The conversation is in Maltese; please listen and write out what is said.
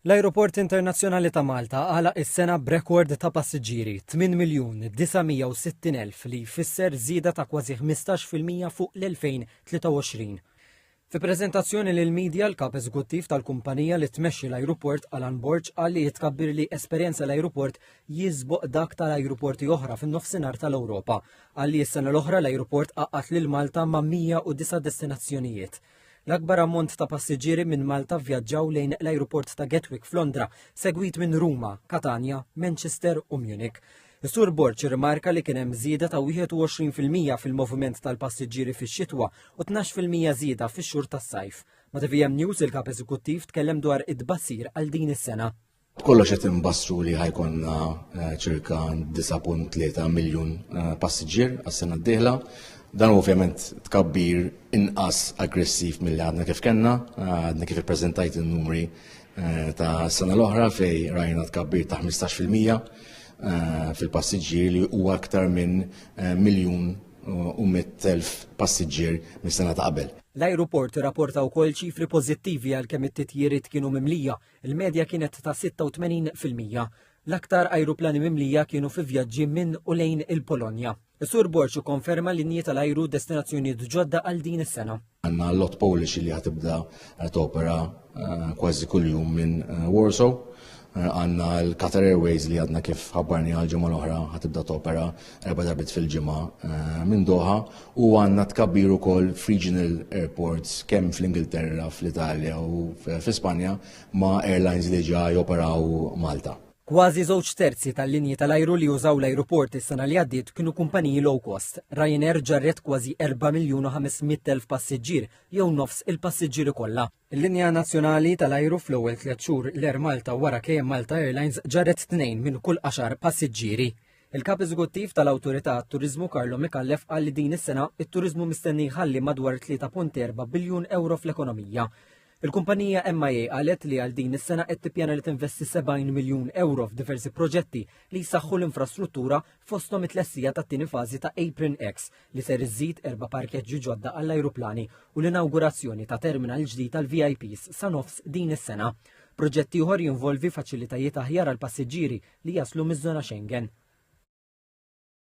L-Ajruport Internazzjonali ta' Malta għalaq is-sena b'rekord ta' passiġġieri 8,960,000 li jfisser żieda ta' kważi 15 fil-mija fuq l-2023. Fi preżentazzjoni lill-media, l-Kap Eżekuttiv tal-kumpanija li tmexxi l-ajruport Alan Borg qal li t-tkabbir li esperjenza l-ajruport jiżboq dak tal-ajruporti oħra fin-Nofsinhar tal-Ewropa. Qal li s-sena l-oħra l-ajruport għaqqad lil Malta ma' 109 destinazzjonijiet. L-akbar ammont ta' passiġġieri minn Malta vvjaġġaw lejn l-ajruport ta' Gatwick f'Londra, segwit minn Ruma, Katanja, Manchester u Munich. Is-Sur Borg irrimarka li kien hemm żieda ta' 21 fil-mija fil-moviment tal-passiġġieri fix-xitwa u 12 fil-mija żieda fix-xhur tas-sajf. Ma' TVM News il-Kap Eżekuttiv tkellem dwar it-tbassir għal din is-sena. B'kollox qed inbassru li ħajkonna eh, ċirka 9.3 miljun eh, passiġġier għas-sena d-dieħla. Dan ovvjament tkabbir inqas aggressiv mill għadna kif kellna, eh, għadna kif ippreżentajt in-numri ta' sena l-oħra fej rajna tkabbir ta' 15% fil-passiġġier li huwa aktar minn miljun u 100.000 passiġġier mis-sena ta' qabel. L-ajruport rapporta wkoll ċifri pożittivi għalkemm it-titjiriet kienu mimlija Il-medja kienet ta' 86 fil-mija. L-aktar ajruplani mimlija kienu fi vjaġġi minn u lejn il-Polonja. Is-Sur Borg ikkonferma linji tal-ajru destinazzjonijiet ġodda għal din is-sena. Għanna l-lot Polish li ħatibda topera eh, kważi kuljum minn eh, Warsaw. Eh, għanna l-Qatar Airways li għadna kif ħabbarni għal-ġimgħa l-oħra ħatibda topera erba' darbit fil-ġimgħa eh, minn Doha u għandna tkabbir ukoll f'regional airports kemm fl-Ingilterra, fl-Italja u fl-Ispanja ma' airlines li ġa joperaw Malta. Kważi żewġ terzi tal-linji tal-ajru li jużaw l-ajruport is-sena li għaddiet kienu kumpaniji low cost. Ryanair ġarret kważi 4 miljun u 500 elf passiġġier jew nofs il-passiġġieri kollha. Il-linja nazzjonali tal-ajru fl-ewwel tliet xhur l-Air Malta wara KM Malta Airlines ġarret tnejn minn kull għaxar passiġġieri. Il-Kap Eżekuttiv tal-Awtorità għat-Turiżmu Carlo Micallef qal li din is-sena t-turiżmu mistenni jħalli madwar 3.4 biljun ewro fl-ekonomija. Il-kumpanija MIA qalet li għal din is-sena qed tippjana li tinvesti 70 miljun ewro f'diversi proġetti li jsaħħu l-infrastruttura fosthom it-tlestija tat-tieni fażi ta' Apron X li ser iżżid erba' parkeġġi ġodda għall-ajruplani u l-inawgurazzjoni ta' terminal ġdid tal-VIPs sa nofs din is-sena. Proġett ieħor jinvolvi faċilitajiet aħjar għall-passiġġieri li jaslu miż-żona Schengen.